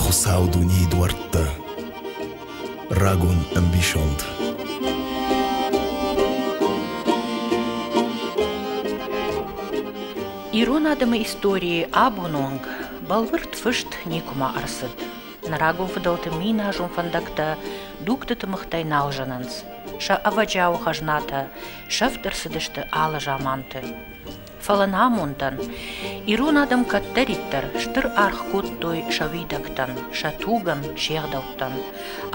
Хуыцау дунейы дуӕрттӕ, рагон ӕмбисонд. Ирон адӕмы историйы абон онг бӕлвырд фыст никуыма ӕрцыд. Нӕ рагон фыдӕлты миназон фӕндӕгтӕ дугты тымыгътӕй нал зынынц. Сӕ ӕвӕджиауы хӕзнатӕ сӕфт ӕрцыдысты алы заманты. Фӕлӕ нӕ амондӕн, ирон адӕм кӕддӕриддӕр стыр аргъ кодтой сӕ уидӕгтӕн, сӕ тугӕн, се гъдӕуттӕн.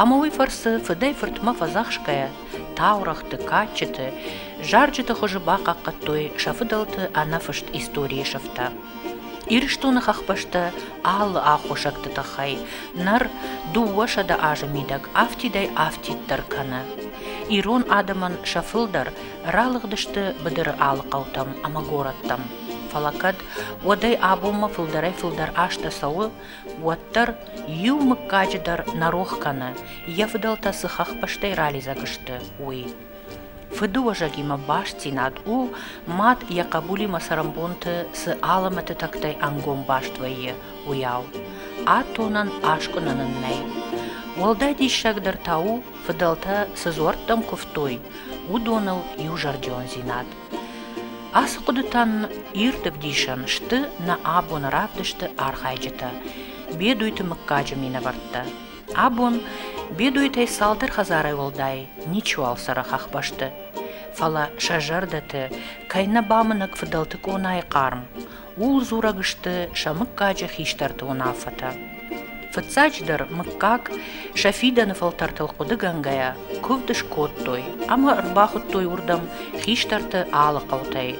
Ӕмӕ уый фӕрцы фыдӕй-фыртмӕ фӕдзӕхсгӕйӕ, таурӕгъты, кадджыты, зарджыты хуызы бахъахъхъӕдтой сӕ фыдӕлты ӕнӕфыст историйы сыфтӕ. Ирыстоны хӕхбӕстӕ алы аххосӕгты тыххӕй ныр дыууӕсӕдӕ азы мидӕг афтидӕй афтиддӕр кӕны. Ирон адӕмӕн сӕ фылдӕр Ралыгъдысты быдыры алы хъӕутӕм ӕмӕ горӕттӕм. Фӕлӕ кӕд уӕдӕй абонмӕ фылдӕрӕй-фылдӕр азтӕ цӕуы, уӕддӕр иу мыггаджы дӕр нӕ рох кӕны, йӕ фыдӕлтӕ цы хӕхбӕстӕй ралидзӕг сты, уый. Фыдыуӕзӕгимӕ бастдзинад у, мад йӕ хъӕбулимӕ цӕрӕнбонты цы алымӕты тӕгтӕй ӕнгом баст вӕййы, уыйау. Атонӕн аскъуынӕн ын нӕй. Уӕлдай диссагдӕр та у, фыдӕлтӕ цы дзуӕрттӕм куывтой, уыдоныл иузӕрдиондзинад. Ацы хъуыдытӕ нын ирд ӕвдисӕн сты нӕ абоны равдысты архайджытӕ, Бедуйты мыггаджы минӕвӕрттӕ. Абон Бедуйтӕй цалдӕр хӕдзарӕй уӕлдай ничиуал цӕры хӕхбӕсты. Фӕлӕ сӕ зӕрдӕты кӕй нӕ бамынӕг фыдӕлты къонайы хъарм, Ууыл дзурӕг сты сӕ мыггаджы хистӕрты уынаффӕтӕ. Фыццаджыдӕр, мыггаг сӕ фидӕны фӕлтӕртыл хъуыдыгӕнгӕйӕ куывд скодтой ӕмӕ ӕрбахуыдтой уырдӕм хистӕрты алы хъӕутӕй.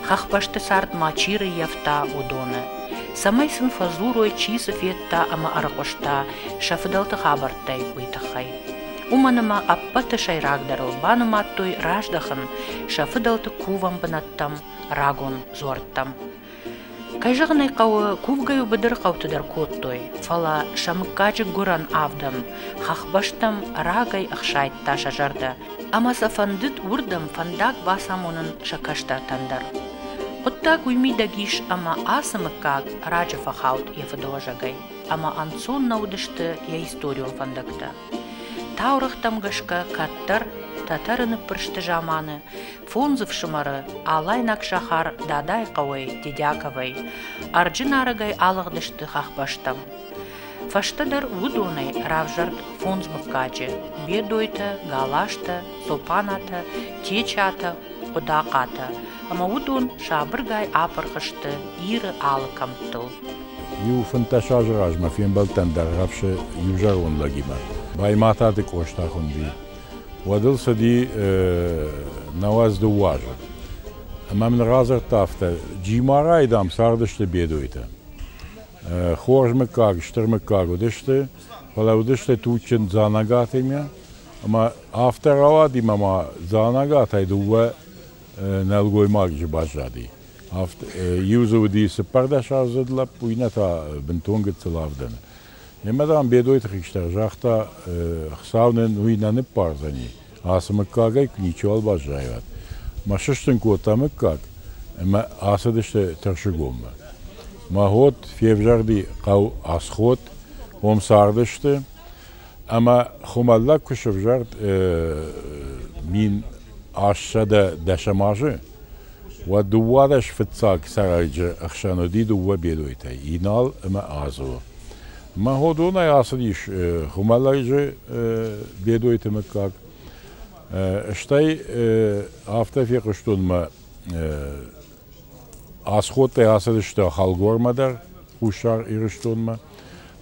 Хӕхбӕсты цард ма чи рыййӕфта, уыдоны. Цӕмӕй сын фӕдзурой, чи цы федта ӕмӕ ӕрыхъуыста сӕ фыдӕлты хабӕрттӕй, уый тыххӕй. Уымӕн ӕмӕ ӕппӕты сӕйрагдӕрыл банымадтой раздӕхын сӕ фыдӕлты кувӕн бынӕттӕм рагон дзуӕрттӕм. Кӕй зӕгъын ӕй хъӕуы, кувгӕ иу быдыр хъӕуты дӕр кодтой, фӕлӕ сӕ мыггаджы гуырӕн авдӕн хӕхбӕстӕм рагӕй ӕхсайдта сӕ зӕрдӕ, ӕмӕ сӕ фӕндыд уырдӕм фӕндаг бацамонын сӕ кӕстӕртӕн дӕр. Хъуыддаг уый мидӕг ис, ӕмӕ ацы мыггаг раджы фӕхауд йӕ фыдыуӕзӕгӕй, ӕмӕ ӕнцон нӕ уыдысты йӕ историон фӕндӕгтӕ. Таурӕгътӕм гӕсгӕ кӕддӕр Тӕтӕры ныппырсты заманы Фондз ӕфсымӕры, алайнаг сахар Дадайы хъӕуӕй, Дедяковӕй, ӕрджы нарӕгӕй алыгъдысты хӕхбӕстӕм. Фӕстӕдӕр уыдонӕй равзӕрд фондз мыггаджы, Бедойтӕ, Галазтӕ, Топанатӕ, Течатӕ, Хъуыдахъатӕ, ӕмӕ уыдон сабыргай апырх сты Иры алы кӕмттыл. Иу фынддӕс азы размӕ фембӕлдтӕн Дӕргъӕфсы иузӕрон лӕгимӕ, Баймӕтаты Къоста хуынди. уӕд ыл цыди науӕдз дыууӕ азы. Ӕмӕ мын радзырдта афтӕ, Джимарайы, дам, цардысты бедойтӕ. Хорз мыггаг, стыр мыггаг уыдысты, фӕлӕ уыдысты туджджын Дзанагатимӕ, ӕмӕ афтӕ рауади мӕ ма Дзанагатӕй дыууӕ нӕлгоймаджы баззади. Иу дзы уыди цыппӕрдӕсаздзыд лӕппу, иннӕ та бынтон гыццыл авдӕны. Немӕ, дам, Бедойты хистӕр загъта, Хуыцау нын уый нӕ ныббардзӕни, ацы мыггагӕй ничиуал баззайӕд. Мӕ сыстын кодта мыггаг, ӕмӕ ацыдысты Тӕрсыгоммӕ. Мӕгъот февзӕрди хъӕу Асхот, уым цардысты, ӕмӕ хуымӕллӕг куы сӕвзӕрд мин астсӕдӕ дӕсӕм азы, Уӕ дыууадӕс фыццаг цӕрӕджы ӕхсӕн уыди дыууӕ бедойтӕ, Инал ӕмӕ Азо. Мӕгъодонӕй ацыдис Хуымӕлӕрджы бедойты мыггаг. Стӕй афтӕ фехъуыстон мӕ асходтӕй ацыдысты Хӕлгормӕ дӕр, Хуссар Ирыстонмӕ,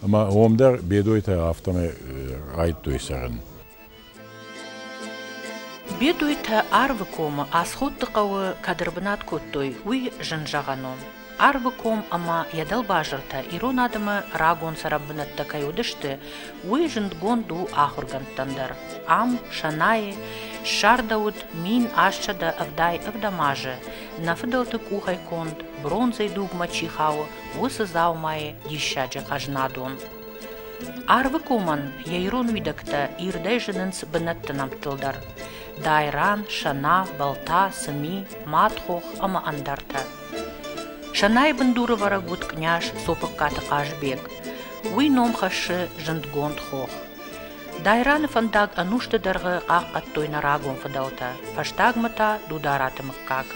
ӕмӕ уым дӕр бедойтӕ афтӕмӕй райдтой цӕрын. Бедуйтӕ Арвы комы Асхутты хъӕуы кӕд ӕрбынат кодтой, уый зын зӕгъӕн у. Арвы ком ӕмӕ йӕ дӕлбазыртӕ ирон адӕмы рагон цӕрӕнбынӕттӕ кӕй уыдысты, уый зындгонд у ахуыргӕндтӕн дӕр. Ам Сӕнайы ссардӕуыд мин ассӕдӕ ӕвдай ӕвдӕм азы, нӕ фыдӕлты къухӕй конд, бронзӕйы дугмӕ чи хауы, уыцы дзаумайы диссаджы ӕзнадон. Арвы комӕн йӕ ирон уидӕгтӕ ирдӕй зынынц бынӕтты нӕмттыл дӕр – дайран, сӕна, балта, сыми, мӕтхох ӕмӕ ӕндӕртӕ. Сӕнайы бындуры вӕрӕг уыд къняз Цопыккаты Хъазбег. Уый ном хӕссы зындгонд хох. Дайраны фӕндаг ӕнусты дӕргъы хъахъхъӕдтой нӕ рагон фыдӕлтӕ, фӕстагмӕ та Дудараты мыггаг.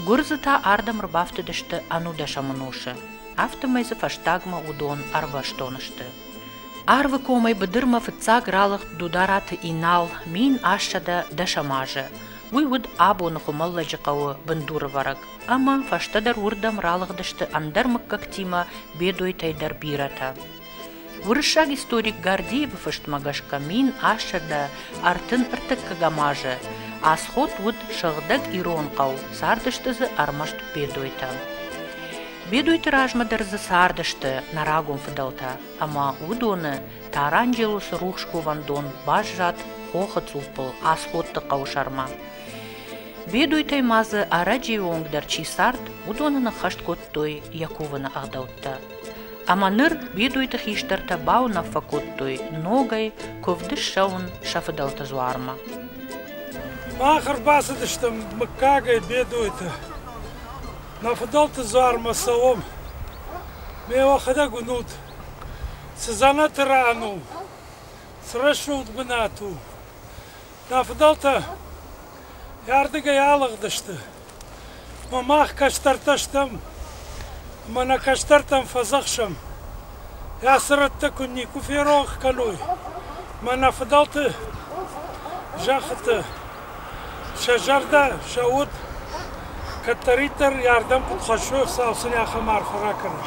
Гуырдзы та ардӕм ӕрбафтыдысты ӕнудӕсӕмы носы. афтӕмӕй дзы фӕстагмӕ уыдон ӕрбӕстон сты. Арвы комӕй быдырмӕ фыццаг ралыгъд Дудараты Инал мин ассӕдӕ дӕсӕм азы. Уый уыд абоны Хуымӕллӕджы хъӕуы бындурывӕрӕг, ӕмӕ фӕстӕдӕр уырдӕм ралыгъдысты ӕндӕр мыггӕгтимӕ Бедойтӕй дӕр бирӕтӕ. Уырыссаг историк Гордеевы фыстмӕ гӕсгӕ мин ассӕдӕ ӕртын ӕртыккӕгӕм азы Асход уыд сыгъдӕг ирон хъӕу, цардысты дзы ӕрмӕст бедойтӕ. Бедойты размӕ дӕр дзы цардысты нӕ рагон фыдӕлтӕ, ӕмӕ уыдоны Таранджелосы рухс кувӕндон баззад хохы цъуппыл Асходты хъӕуы сӕрмӕ. Бедойтӕй ма дзы ӕрӕджыйы онг дӕр чи цард, уыдоны ныххӕст кодтой йӕ кувыны ӕгъдӕуттӕ. Ӕмӕ ныр бедойты хистӕртӕ бауынаффӕ кодтой ногӕй куывды ссӕуын сӕ фыдӕлты дзуармӕ. Мах ӕрбацыдыстӕм мыггагӕй бедойты. Нӕ фыдӕлты дзуармӕ цӕуӕм. Ме уӕхӕдӕг уынут, цы дзӕнӕты ран у, цы рӕсугъд бынат у. Нӕ фыдӕлтӕ йӕ ардыгӕй алыгъдысты, Мах кӕстӕртӕ стӕм ӕмӕ нӕ кӕстӕртӕн фӕдзӕхсӕм, ацы рӕттӕ куыд никуы ферох кӕной мӕ нӕ фыдӕлты зӕххытӕ, сӕ зӕрдӕ, сӕ уд кӕддӕриддӕр ардӕм куыд хӕссы, цал сын ахӕм арфӕ ракӕнӕм.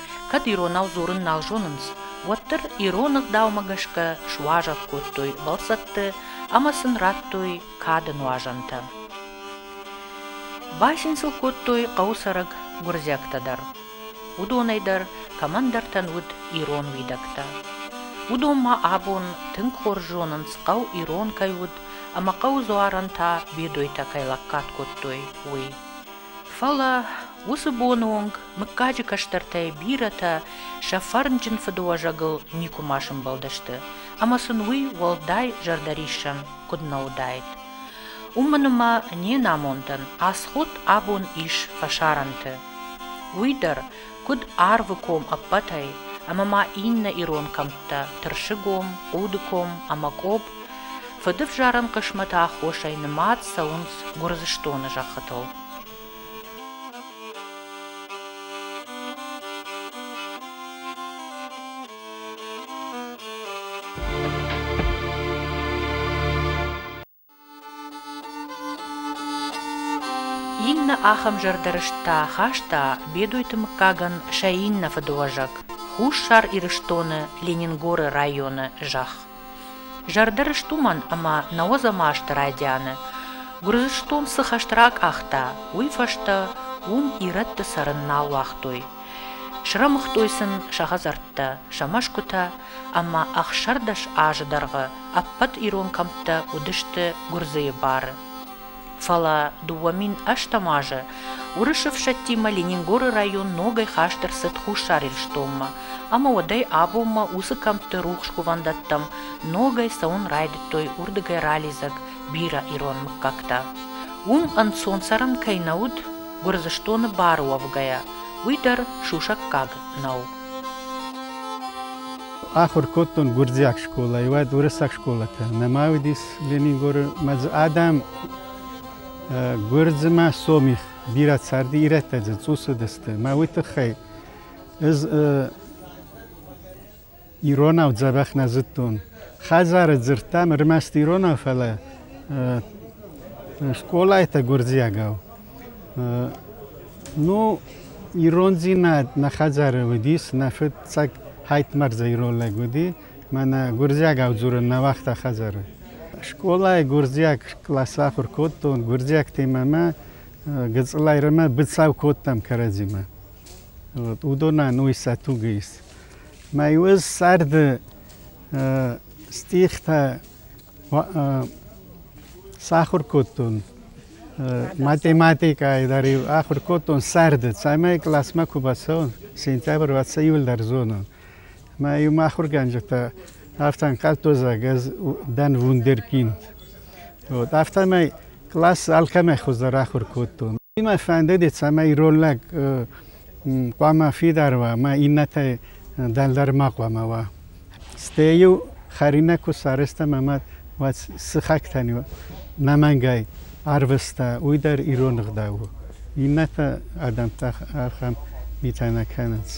Кӕд иронау дзурын нал зонынц, уӕддӕр ирон ӕгъдаумӕ гӕсгӕ суазӕг кодтой бӕлццӕтты ӕмӕ сын радтой кады нуазӕнтӕ. Бацин сыл кодтой хъӕуы цӕрӕг гуырдзиӕгтӕ дӕр. Уыдонӕй дӕр кӕмӕндӕртӕн уыд ирон уидӕгтӕ. Уыдон ма абон тынг хорз зонынц, хъӕу ирон кӕй уыд ӕмӕ хъӕуы дзуарӕн та бедойтӕ кӕй лӕггад кодтой, уый. Фӕлӕ уыцы боны онг мыггаджы кӕстӕртӕй бирӕтӕ сӕ фӕрнджын фыдыуӕзӕгыл никуыма сӕмбӕлдысты ӕмӕ сын уый уӕлдай зӕрдӕриссӕн куыд нӕ уыдаид. Уымӕн ӕмӕ не намондӕн Асхуд абон ис фӕсарӕнты. Уый дӕр куыд Арвы ком ӕппӕтӕй ӕмӕ ма иннӕ ирон кӕмттӕ Тырсыгом, Удыком ӕмӕ Къоб, фыдывзарӕн хъысмӕты аххосӕй нымад цӕуынц Гуырдзыстоны зӕххытыл. Иннӕ ахӕм зӕрдӕ рыстӕ хаста Бедойты мыггагӕн сӕ иннӕ фыдыуӕзӕг, Хуссар Ирыстоны Ленингоры районы зӕхх. Зӕрдӕ рыст уымӕн, ӕмӕ науӕдзӕм азты райдианы Гуырдзыстон цы хӕст ракъахта, уый фӕстӕ уым ирӕтты цӕрын нал уагътой. Срӕмыгътой сын сӕ хӕдзӕрттӕ, сӕ мӕсгуытӕ ӕмӕ ӕхсӕрдӕс азы дӕргъы ӕппӕт ирон кӕмттӕ уыдысты гуырдзыйы бары. Фӕлӕ дыууӕ мин ӕстӕм азы уырысы ӕфсӕдтимӕ Ленингоры район ногӕй хаст ӕрцыд Хуссар Ирыстонмӕ, ӕмӕ уӕдӕй абонмӕ уыцы кӕмтты рухс кувӕндӕттӕм ногӕй цӕуын райдыдтой уырдыгӕй ралидзӕг бирӕ ирон мыггӕгтӕ. Уым ӕнцон цӕрӕн кӕй нӕ уыд, Гуырдзыстоны бары уӕвгӕйӕ, уый дӕр сусӕггаг нӕу. Ахуыр кодтон гуырдзиаг скъолайы, уӕд уырыссаг скъолатӕ нӕма уыдис Ленингоры. Мӕ дзы адӕм гуырдзымӕ сомих бирӕ царди, ирӕттӕ дзы цъусыдысты. Мӕ уый тыххӕй ӕз иронау дзӕбӕх нӕ зыдтон. Хӕдзары дзырдтам ӕрмӕст иронау, фӕлӕ скъолайтӕ гуырдзиагау. Ну, ирондзинад нӕ хӕдзары уыдис, нӕ фыццаг Хайтмӕрза ирон лӕг уыди, мӕнӕ гуырдзиагау дзурын нӕ уагъта хӕдзары. Скъолайы гуырдзиаг класс ахуыр кодтон, гуырдзиӕгтимӕ мӕ гыцъылайрӕмӕ быцӕу кодтам кӕрӕдзимӕ. Вот, уыдонӕн уый сӕ тугы ис. Мӕ иу царды стихтӕ Сахуыр кодтон математикӕйы дӕр-иу ахуыр кодтон сӕрды, цӕмӕй классмӕ куы бацӕуон, сентябры уӕд сӕ иуылдӕр зонон. Мӕ-иу мӕ ахуыргӕнджытӕ афтӕ ӕнхъӕлдтой, зӕгъ, ӕз дӕн вундеркинд. Вот, афтӕмӕй класс алкӕмӕй хуыздӕр ахуыр кодтон. Мӕ фӕндыди, цӕмӕй ирон лӕг хъуамӕ фидар уа, мӕ иннӕтӕй дӕлдӕр ма хъуамӕ уа. Стӕй-иу хӕринаг куы сарӕзтам ӕмӕ уӕд сыхӕгтӕн иу ӕнӕмӕнгӕй арвыста, уый дӕр ирон ӕгъдау у. Иннӕтӕ адӕмтӕ ахӕм митӕ нӕ кӕнынц.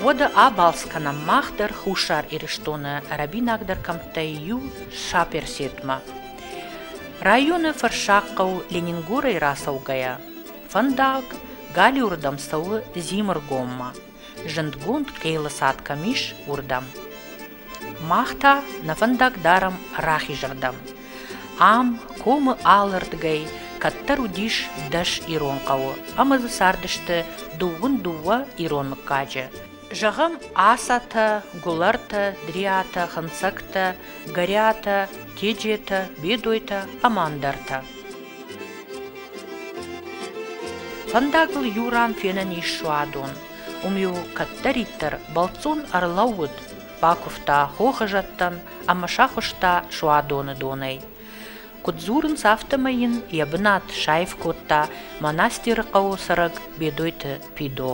Уӕдӕ абалц кӕнӕм мах дӕр Хуссар Ирыстоны ӕрӕбинагдӕр кӕмттӕй иу Саперсетмӕ. Районы Фӕрсӕгхъӕу Ленингорӕй рацӕугӕйӕ, Фӕндаг галиуырдӕм цӕуы Зимыргоммӕ, зындгонд хъелы цад кӕм ис, уырдӕм. Мах та нӕ фӕндаг дарӕм рахизырдӕм. Ам, комы алырдгӕй, кӕддӕр уыдис дӕс ирон хъӕуы ӕмӕ дзы цардысты дыууын дыууӕ ирон мыггаджы. Зӕгъӕм, Асатӕ, Гуылӕртӕ, Дриатӕ, Хынцӕгтӕ, Гӕриатӕ, Теджетӕ, Бедойтӕ ӕмӕ ӕндӕртӕ. Фӕндагыл иу ран фенӕн ис суадон. Уым-иу кӕддӕриддӕр бӕлццон ӕрлӕууыд, бакуывта хохы зӕдтӕн ӕмӕ сахуыста суадоны донӕй. Куыд дзурынц, афтӕмӕй йын йӕ бынат саив кодта монастыры хъӕуы цӕрӕг Бедойты Пидо.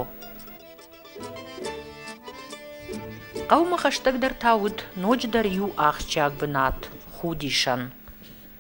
Хъӕумӕ хӕстӕгдӕр та уыд ноджыдӕр иу ахсджиаг бынат – Худисӕн.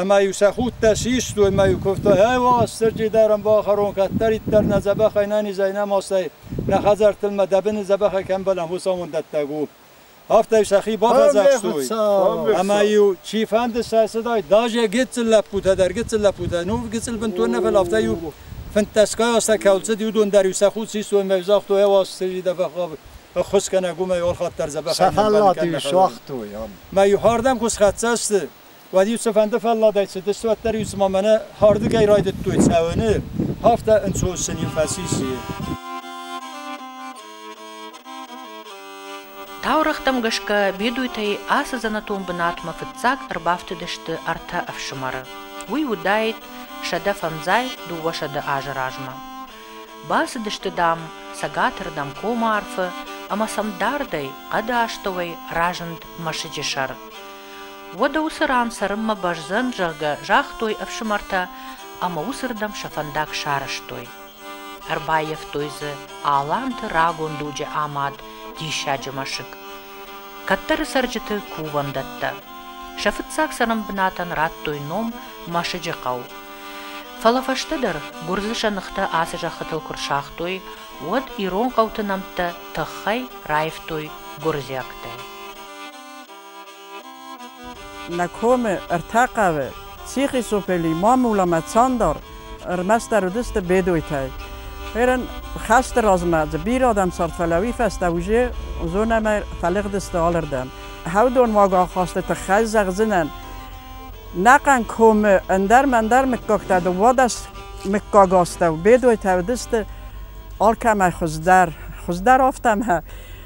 ӕма-иу сӕ худтӕ систуй ӕма иу кувта «Ӕ, Уастырджи дӕр ӕм бахӕрон, кӕддӕриддӕр нӕ дзӕбӕхӕй нӕ низӕй нӕ масӕй, нӕ хӕдзӕрттыл ма дӕ бини дзӕбӕхӕй кӕмбӕлӕм, уосамон дӕттӕг у». Афтӕ сӕхи бафӕдзахстуй. Ӕма-иу чифӕнди сӕ цудӕй, даже гиццыл лӕппутӕ дӕр, гиццыл лӕппутӕ, нур гиццыл бинтур нӕфал, афтӕ-иу финддӕсгай азтӕ ка уцуд, иудон дӕр-иу сӕ худ систуй ӕма загътой, «Ӕ, Уастырджи дӕ бӕхгъав ӕххуыс кӕнӕ, гумӕй орхаттӕр дзӕбӕхӕй нӕбӕл кӕнӕ». Сахаллати суагътой ам. Ма-иу хӕрдӕн кус хӕццӕ сты. Уӕд-иу цыфӕнды фӕлладӕй цыдысты, уӕддӕр-иу цыма мӕнӕ хӕрдыгӕй райдыдтой цӕуыны, афтӕ ӕнцон сын-иу фӕцис. Таурӕгътӕм гӕсгӕ бедуйтӕй ацы дзӕнӕтон бынатмӕ фыццаг ӕрбафтыдысты ӕртӕ ӕфсымӕры. Уый уыдаид сӕдӕ фӕндзай дыууӕсӕдӕ азы размӕ. Бацыдысты, дам, цӕгатырдӕм комарфы ӕмӕ сӕм дардӕй хъӕды астӕуӕй разынд мӕсыджы сӕр. Уӕдӕ уыцы ран цӕрынмӕ бӕздзӕн, зӕгъгӕ, загътой ӕфсымӕртӕ ӕмӕ уыцырдӕм сӕ фӕндаг сарӕзтой. Ӕрбаййӕфтой дзы аланты рагон дуджы амад диссаджы мӕсыг. Кӕддӕры цӕрджыты кувӕндӕттӕ. Сӕ фыццаг цӕрӕнбынатӕн радтой ном Мӕсыджы хъӕу. Фӕлӕ фӕстӕдӕр гуырдзы сӕныхтӕ ацы зӕххытыл куы рсагътой, уӕд ирон хъӕуты нӕмттӕ тыххӕй раивтой гуырдзиӕгтӕй. Нӕ комы ӕртӕ хъӕуы, Сихъисупели, Мамуламӕ, Цандар, ӕрмӕстдӕр уыдысты Бедойтӕ. Хӕрын хӕсты размӕ дзы бирӕ адӕм цард, фӕлӕ уый фӕстӕ уже зонӕмӕ фӕлыгъдысты алырдӕм. Хаудонуаг ахасты тыххӕй зӕгъдзынӕн, нӕхъӕн комы ӕндӕр-мӕндӕр мыггӕгтӕ дыууадӕс мыггаг астӕу Бедойтӕ уыдысты, алкӕмӕй хуыздӕр, хуыздӕр афтӕ мӕ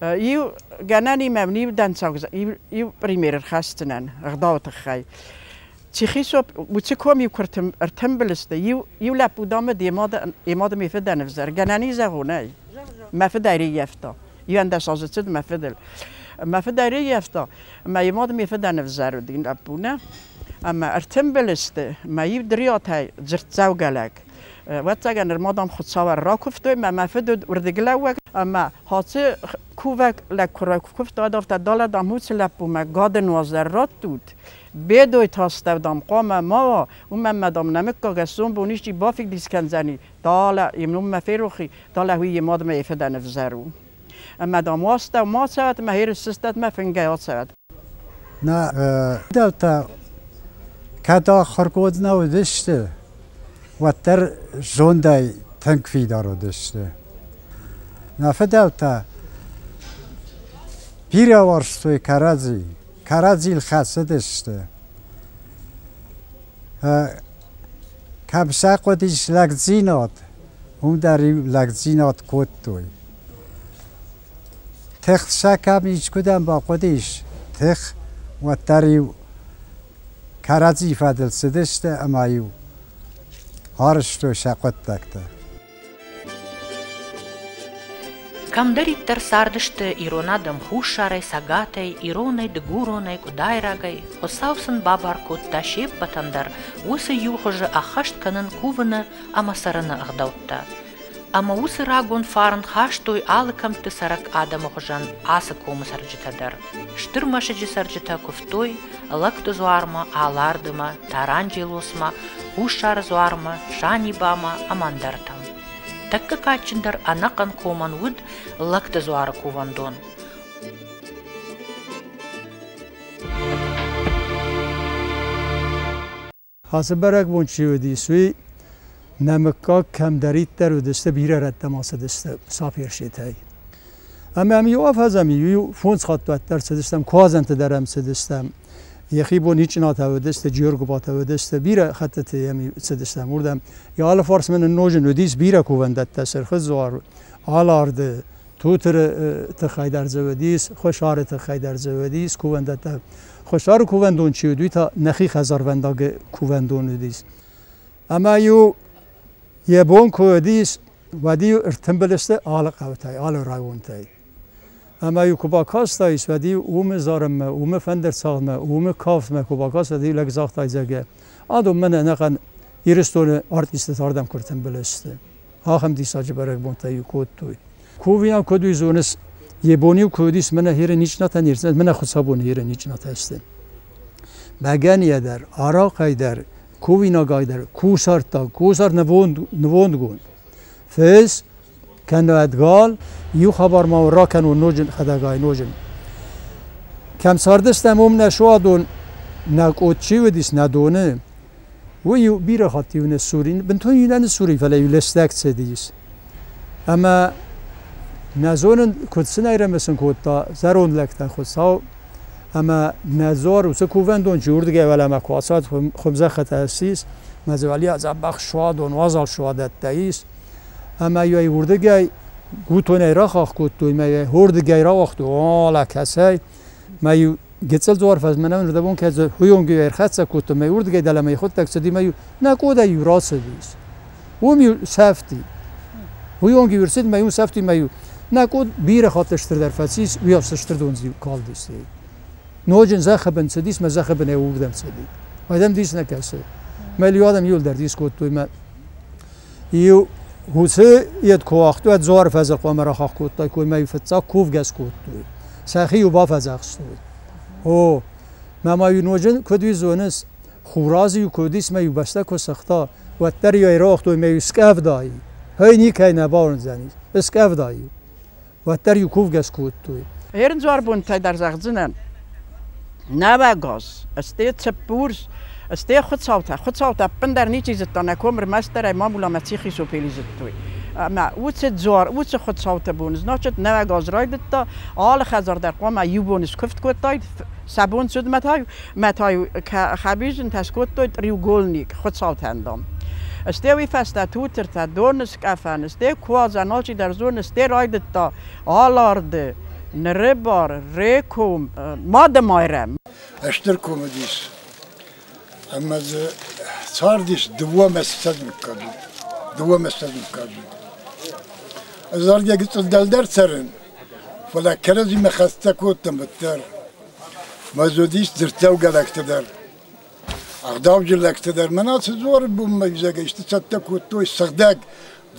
иу гӕнанимӕ иу дӕнцӕг иу пример ӕрхӕсдзынӕн ӕгъдауы тыххӕй. Чихисоп Уцикоми курты ӕртымбылысты иу иу лӕппу дӕмӕ де мады йӕ мады мӕ фыдӕн ӕвзӕр гӕнӕни зӕгъунӕй. Мӕ фыд ӕрыййӕфта. Иуӕндӕс азы цыд мӕ фыдыл. Мӕ фыд ӕрыййӕфта мӕ йӕ мады мӕ фыдӕн ӕвзӕр уыди лӕппу нӕ. Ӕмӕ ӕртымбылысты мӕ иу дриатӕй дзырддзӕугӕ лӕг. Ӕвӕццӕгӕн нырма дам хуыцауӕн ракуывтой, мӕ мӕ фыд уыд уырдыглӕууӕг ӕмӕ хӕцы кувӕг лӕг куы ракуывта, дӕр та далӕ дам уыцы лӕппумӕ гӕды нуазӕр раттут, бедой тастӕв дам хъуамӕ ма, уымӕн мӕ дам нӕ мыггаг ӕсдзон бон исчи бафидбис кӕндзӕни, далӕ йе мноммӕ ферохи, далӕ уый йе мадмӕ йӕ фыдӕн ӕвзӕр у. Мадам уаста мацарад ӕма ерысыстадмӕ фингӕй ацарад. Нӕ фидӕлтӕ кӕд ахуыргондмӕ уыдысты, уӕддӕр зондӕй тынг фидар уыдысты. Нӕ фидӕлтӕ бирӕ уарзтой кӕрӕдзи, кӕрӕдзийыл хӕцыдысты. Кӕм сӕ хъуыдис лӕгдзинад, уым дӕр-иу лӕгдзинад кодтой. Тых сӕ кӕм искуыдӕм бахъуыдис, тых, уӕддӕр-иу кӕрӕдзи фӕдыл цыдысты ӕмӕ-иу арызтой сӕ хъуыддӕгтӕ. Кӕмдӕриддӕр цардысты ирон адӕм хуссарӕй, цӕгатӕй, иронӕй, дыгуронӕй, къуыдайрагӕй, Хуыцау сын бабар кодта се ппӕтӕн дӕр уыцы иу хуызы ӕххӕст кӕнын кувыны ӕмӕ цӕрыны ӕгъдӕуттӕ. Ӕмӕ уыцы рагон фарн хастой алы кӕмтты цӕрӕг адӕмы хуызӕн ацы комы цӕрджытӕ дӕр. Стыр мӕсыджы цӕрджытӕ куывтой Лӕгты дзуармӕ, Алардымӕ, Таранджелосмӕ, Хуссары дзуармӕ, Санибамӕ ӕмӕ ӕндӕртӕм. Тӕккӕ кадджындӕр ӕнӕхъӕн комӕн уыд Лӕгты дзуары кувӕндон. Ацы бӕрӕгбон чи уыдис, уый нӕ мыггаг кӕмдӕриддӕр уыдысты, бирӕ рӕттӕм ацыдысты саперситӕй. Ӕмӕ ам иу афӕдзӕм, иу фондз хатт уӕддӕр цыдыстӕм, куадзӕнты дӕр ӕм цыдыстӕм. Йӕхи бон Ичъынатӕ уыдысты, Джергуыбатӕ уыдысты, бирӕ хӕттыты йӕм цыдыстӕм уырдӕм. Йӕ алыфарс мӕ ныннозын уыдис бирӕ кувӕндӕттӕ, сырхы дзуар, аларды Тутыры тыххӕй дӕр дзӕвӕд ис, хуссары тыххӕй дӕр дзӕвӕд ис кувӕндӕттӕ. Хуссары кувӕндон чи уыд, уый та нӕхи хӕдзарвӕндагы кувӕндон уыдис. Ӕмӕ-иу йӕ бон куы уыдис, уӕд-иу ӕртымбыл сты алы хъӕутӕй, алы районтӕй. Ӕмӕ-иу куы бакастаис, уӕд-иу уымы зарынмӕ, уымы фӕндырцалынмӕ, уымы кафтмӕ куы бакастаис, уӕд-иу лӕг загъта, зӕгъгӕ, адон мӕн ӕнӕхъӕн Ирыстоны артисттӕ цардӕн куы ӕртымбыл сты. ахӕм диссаджы бӕрӕгбонтӕ-иу кодтой. Кувийӕн куыд уый зоныс, йе бон-иу куы уыдис мӕнӕ хире ничнатӕ нирдзынӕн, мӕнӕ хуыцабоны хире ничнатӕ сты. Бӕгӕныйӕ дӕр, арахъӕй дӕр, кувинагӕй дӕр кусӕрттаг, кусӕр нывонд, нывондгонд. Фӕз кӕнӕд гал, иу хабар ма ракӕнон ноджы хӕдӕгай ноджы. Кӕм цардыстӕм, уым нӕ суадон, нӕ къот чи уыдис, нӕ доны, Уый у бирӕ хатт иу не ссур, бынтон иу нӕ ссуры, фӕлӕ иу лӕстӕг цӕдис. Ӕмӕ нӕ зонын, куыд сын айрӕмӕсын кодта зӕронд лӕгтӕ Хуыцау, ӕмӕ нӕ дзуар уыцы кувӕндон чи уырдыгӕй уӕлӕмӕ куы ацад, хуымзӕххытӕ ссис, мӕ дзывӕлийӕ дзӕбӕх суадон, уазал суадӕттӕ ис, ӕмӕ йӕ уырдыгӕй гутонӕй рахахх кодтой, мӕ йӕ уырдыгӕй рауагътой, о, лӕ кӕцӕй, Мӕ гецӕл дзуар фӕзмӕнӕн рдӕбон кӕдзо хуйонгиу ӕрхӕццӕ кодта, мӕ урдгӕй дӕлӕмӕ ихудтӕг цуди мӕ нӕ къодаййу рацӕдис. Уоми сӕфти. Хуйонгиу ӕрцид мӕ ун сӕфти мӕ нӕ къод бирӕ хатт стырдӕр фӕцис, уиафсӕ стырдондзиу калдистӕй. Ноджин зӕххӕбӕн цӕдис, мӕ зӕххӕбӕн ӕуугдӕн цӕди. Уӕдӕн дис нӕ кӕсӕ. Мӕ лиу адӕм иулдӕр дискодтой мӕ Уыцы ед куы уагътой, дзуар фӕзы хъуамӕ рахахх кодтой, коймӕ фыццаг кувгӕс кодтой. Сӕхи-иу бафӕдзӕхстой. О, мӕ ма-иу ноджы куыд уый зоныс, Хурадз-иу куыд ис мӕ-иу бӕстӕ куы сыгъта, уӕддӕр-иу ӕрауагътой мӕ-иу скъӕфдай. Ӕй никӕй нӕ бауырндзӕнис, ыскъӕфдай-иу. уӕддӕр иу кувгӕс кодтой. Ӕрдзуарбонтӕ дӕр зӕгъдзынӕн, нӕвӕгас, сте цыппурс, сте хуыцаутӕ. Хуыцаутӕ ӕппындӕр ничи зыдта, нӕ ком ӕрмӕстдӕрӕй мамуламӕ ци'хисопӕй лидзыдтой. Ӕмӕ уыцы дзуар, уыцы хуыцауты бон, значит, нӕвӕгас райдыдта. Алы хӕдзар дӕр хъуамӕ иу бон скуывд кодтаид, Сӕ бон цудмӕ та мӕтӕй хӕбизинтӕ скодтой треугольник хуцаутӕн дон. Стеуи фӕстӕ тутыртӕ доны скъӕфӕн, сте куадзӕн алчидӕр зоны, сте райдыдта аларды ныры бар Реком Мады-Майрӕм. Стыр ком уыдис. Ӕмӕ дзы цардис дыууӕ месяцӕд мыггаг у. Дыууӕ месяцӕд мыггаг у. Ӕз заргӕ гыццыл дӕлдӕр цӕрын, фӕлӕ кӕрӕдзимӕ хӕццӕ кодтам уӕддӕр. Мӕ ӕз уыдис дзырддзӕугӕ лӕгтӕ дӕр, ӕгъдауджын лӕгтӕ дӕр. Мӕнӕ Цезоры бонмӕ изӕргӕ исты цӕттӕ кодтой сыгъдӕг.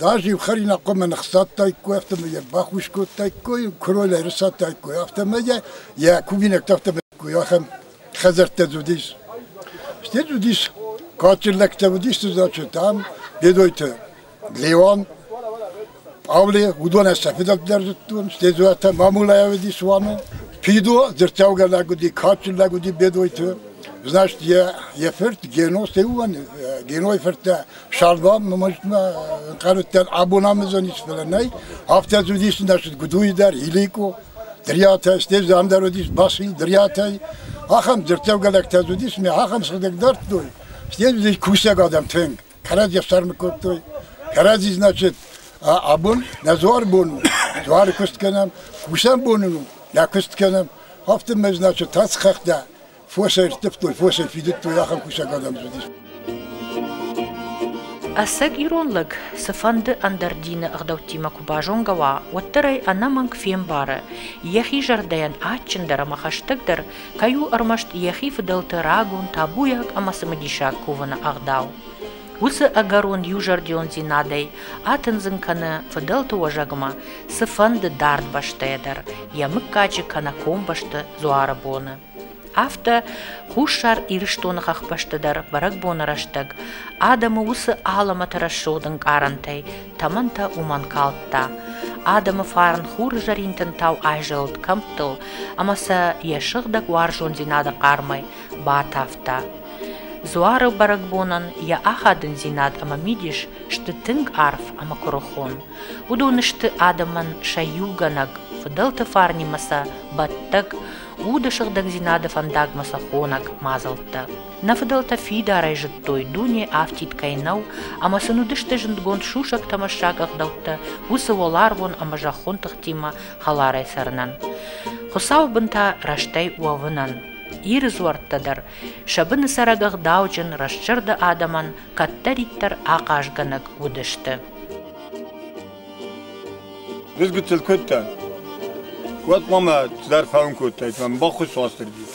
Даже иу хӕринаг хъуамӕ ныхсадтаиккой, афтӕ ма йӕ бахус кодтаиккой, куыройыл ӕрысадтаиккой, афтӕ ма йӕ, йӕ кувинӕгтӕ афтӕ ма ахӕм хӕдзӕрттӕ уыдис. Стӕй уыдис кадджын лӕгтӕ, уыдисты зачетӕм, Бедойты Леон, Павле, уыдонӕй сӕ фыдӕлдӕр зыдтон, стӕй Зуатӕ Мамулайӕ уыдис уаны. Фидо дзырдтӕугӕ лӕг уыди, кадджын лӕг уыди Бедойты. Значит, йӕ, йӕ фырт Гено, стӕй уыгӕн Генойы фырттӕ Сӕрдам нымӕзтмӕ къӕрттӕн абон амазон ис, фӕлӕ нӕй. Афтӕ уыдис нӕсыд Гудуйы дӕр, Иликъо, Дриатӕ, стӕй Зандер уыдис, Басил, Дриатӕй. Ахӕм дзырдтӕвгӕлӕгтӕ уыдис, мӕ ахӕм сыгъдӕг дардтой. Стӕй уыдис кусӕг адӕм тынг. Кӕрӕдзи ӕфсӕрмы кодтой. Кӕрӕдзи, значит, абон нӕ дзуары бон у. Дзуары куыст кӕнӕм, кусӕн бон у, нӕ куыст кӕнӕм. Афтӕ мӕ, значит, тӕц хӕхтӕ. Фосӕй рттывтой, фосӕй фидыдтой, ахӕм кусӕг адӕм уыдис. Ӕцӕг ирон лӕг цыфӕнды ӕндӕр дины ӕгъдӕуттимӕ куы базонгӕ уа, уӕддӕр ӕй ӕнӕмӕнг фембары, йӕхи зӕрдӕйӕн адджындӕр ӕмӕ хӕстӕгдӕр кӕй у ӕрмӕст йӕхи фыдӕлты рагон, табуйаг ӕмӕ цымыдисаг кувыны ӕгъдау. Уыцы ӕгӕрон иузӕрдиондзинадӕй атындзын кӕны фыдӕлты уӕзӕгмӕ цыфӕнды дард бӕстӕйӕ дӕр йӕ мыггаджы кӕнӕ комбӕсты дзуары боны. Афтӕ Хуссар Ирыстоны хӕхбӕсты дӕр бӕрӕгбоны рӕстӕг адӕмы уыцы алӕмӕты рӕсугъд ӕнкъарӕнтӕй тӕмӕнтӕ уымӕн калдта. Адӕмы фарн хурзӕринтын тау айзӕлыд кӕмттыл ӕмӕ сӕ йӕ сыгъдӕг уарзондзинады хъармӕй батавта. Дзуары бӕрӕгбонӕн йӕ ахадындзинад ӕмӕ мидис сты тынг арф ӕмӕ куырыхон. Уыдон сты адӕмӕн сӕ иугӕнӕг, фыдӕлты фарнимӕ сӕ бӕттӕг, уды сыгъдӕгдзинады фӕндагмӕ сӕ хонӕг мадзӕлттӕ. Нӕ фыдӕлтӕ фидарӕй зыдтой, дуне афтид кӕй нӕу, ӕмӕ сын уыдысты зындгонд сусӕг-тӕмӕссаг ӕгъдӕуттӕ уыцы уӕларвон ӕмӕ зӕххон тыхтимӕ хӕларӕй цӕрынӕн, Хуыцауы бынтӕ рӕстӕй уӕвынӕн. Иры дзуӕрттӕ дӕр, сӕ быны цӕрӕг ӕгъдауджын, рӕстзӕрды адӕмӕн кӕддӕриддӕр ахъазгӕнӕг уыдысты. Дызгытыл кодтан. Уӕд ма цыдӕр фӕуын кодтаид, мӕ баххуыс Уастырджи.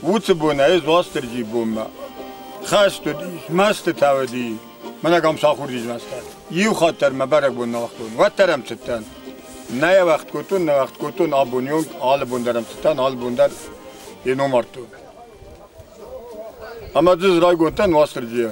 Уыцы бон ӕй Уастырджи бонмӕ. Хӕст уыдис, мӕстытӕ уыди. Мӕнӕг ам сахурдис мӕстӕ. Иу хатт дӕр мӕ бӕрӕгбон нӕ уагътон. Уӕддӕр ӕм цыдтӕн. Нӕ йӕ кодтон, нӕ кодтон абони онг, алы бон дӕр ӕм цыдтӕн, алы бон дӕр йе ном ардтон. Ӕмӕ дзы райгондтӕн Уастырджийӕ.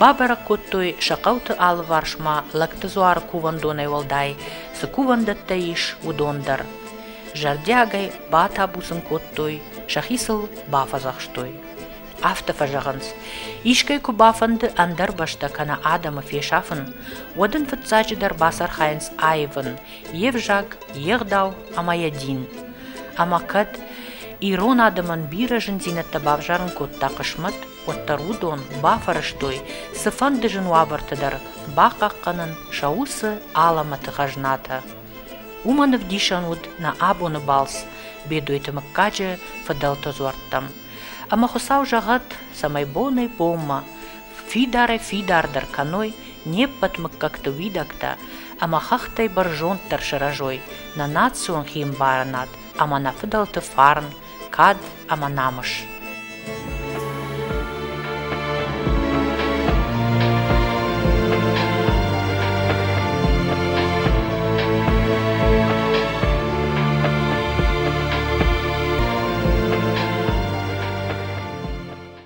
Бабӕрӕг кодтой сӕ хъӕуты алыварсмӕ лӕгты дзуары кувӕндонӕй уӕлдай цы кувӕндӕттӕ ис, уыдон дӕр. Зӕрдиагӕй батабуцын кодтой, сӕхи сыл бафӕдзӕхстой. Афтӕ фӕзӕгъынц, искӕй куы бафӕнды ӕндӕр бӕстӕ кӕнӕ адӕмы фесафын, уӕд ын фыццаджыдӕр бацархайынц аивын йе взаг, йе гъдау ӕмӕ йӕ дин. Ӕмӕ кӕд ирон адӕмӕн бирӕ зындзинӕдтӕ бавзарын кодта хъысмӕт, уӕддӕр уыдон бафӕрӕзтой цыфӕнды зын уавӕрты дӕр бахъахъхъӕнын сӕ уыцы алӕмӕты хӕзнатӕ. Уымӕн ӕвдисӕн уыд нӕ абоны балц Бедойты мыггаджы фыдӕлты дзуӕрттӕм. Ӕмӕ Хуыцау зӕгъӕд, цӕмӕй бонӕй-бонмӕ фидарӕй-фидардӕр кӕной не ппӕт мыггӕгты уидӕгтӕ ӕмӕ хӕхтӕй бӕрзонддӕр сырӕзой нӕ национ химбарынад ӕмӕ нӕ фыдӕлты фарн кад ӕмӕ намыс.